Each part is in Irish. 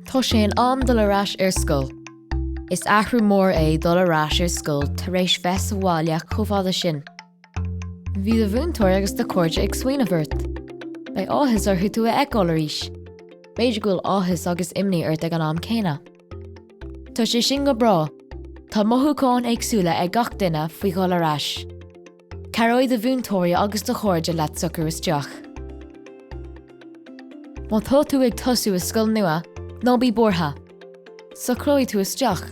Tá sé in am dul ar ais ar scoil. Is athrú mór é dul ar ais ar scoil tar éis bheith sa bhaile chomh fada sin. Bhí do mhúinteoir agus do chairde ag smaoineamh ort. Beidh áthas orthu tú a fheiceáil arís. B'fhéidir go bhfuil áthas agus imní ort ag an am céanna. Tá sé sin go breá. Tá mothúcháin éagsúla ag gach duine faoi dhul ar ais. Cabhróidh do mhúinteoirí agus do chairde leat socrú isteach. Má tá tú ag tosú i scoil nua, ná bí buartha! Socróidh tú isteach.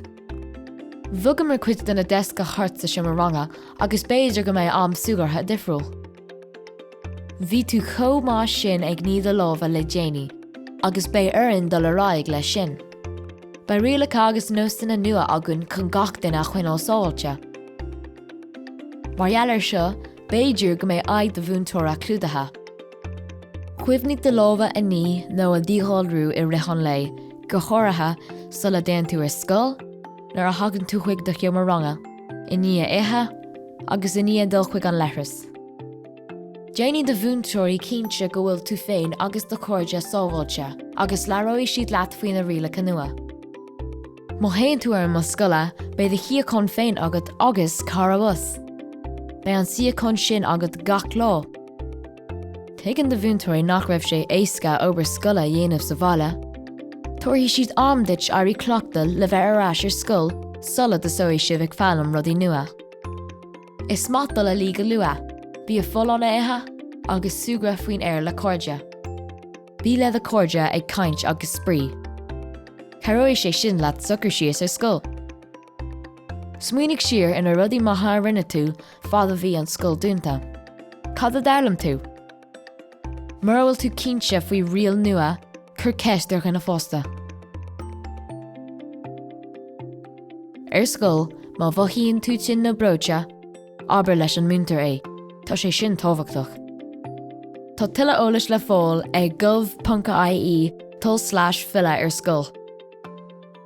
Bhogamar cuid de na deasca thart sa seomra ranga agus b'fhéidir go mbeidh am súgartha difriúil. Bhí tú chomh maith sin ag ní do lámha le déanaí agus beidh orainn dul ar aghaidh leis sin. Beidh rialacha agus nósanna nua againn chun gach duine a choinneáil sábháilte. Mar gheall air seo, b'fhéidir go mbeidh aghaidh do mhúinteora clúdaithe. Cuimhnigh do lámha a ní nó a dhíghalrú i rith an lae, go háirithe sula dtéann tú ar scoil, nuair a thagann tú chuig do sheomra ranga, i ndiaidh ithe, agus i ndiaidh dul chuig an leithreas. Déanfaidh do mhúinteoirí cinnte go bhfuil tú féin agus do chairde sábháilte agus labhróidh siad leat faoi na rialacha nua. Má théann tú ar an mbus scoile beidh do shuíochán féin agat agus cara bus. Beidh an suíochán sin agat gach lá. Tuigeann do mhúinteoirí nach raibh sé éasca obair scoile a dhéanamh sa bhaile. Tabharfaidh siad am duit éirí cleachtach le bheith ar ais ar scoil sula dtosóidh sibh ag foghlaim rudaí nua. Is maith dul a luí go luath, bia folláin a ithe, agus súgradh faoin aer le cairde. Bí le do chairde ag caint agus spraoi. Cabhróidh sé sin leat socrú síos ar scoil. Smaoinigh siar ar na rudaí maithe a rinne tú fad a bhí an scoil dúnta. Cad a d'fhoghlaim tú? Mura bhfuil tú cinnte faoi riail nua, cuir ceist ar dhuine fásta. Ar scoil, má mhothaíonn tú tinn nó breoite, Abair leis an múinteoir é, tá sé sin tábhachtach. Tá tuilleadh eolais le fáil ag gov.ie tulslais filleadh ar scoil.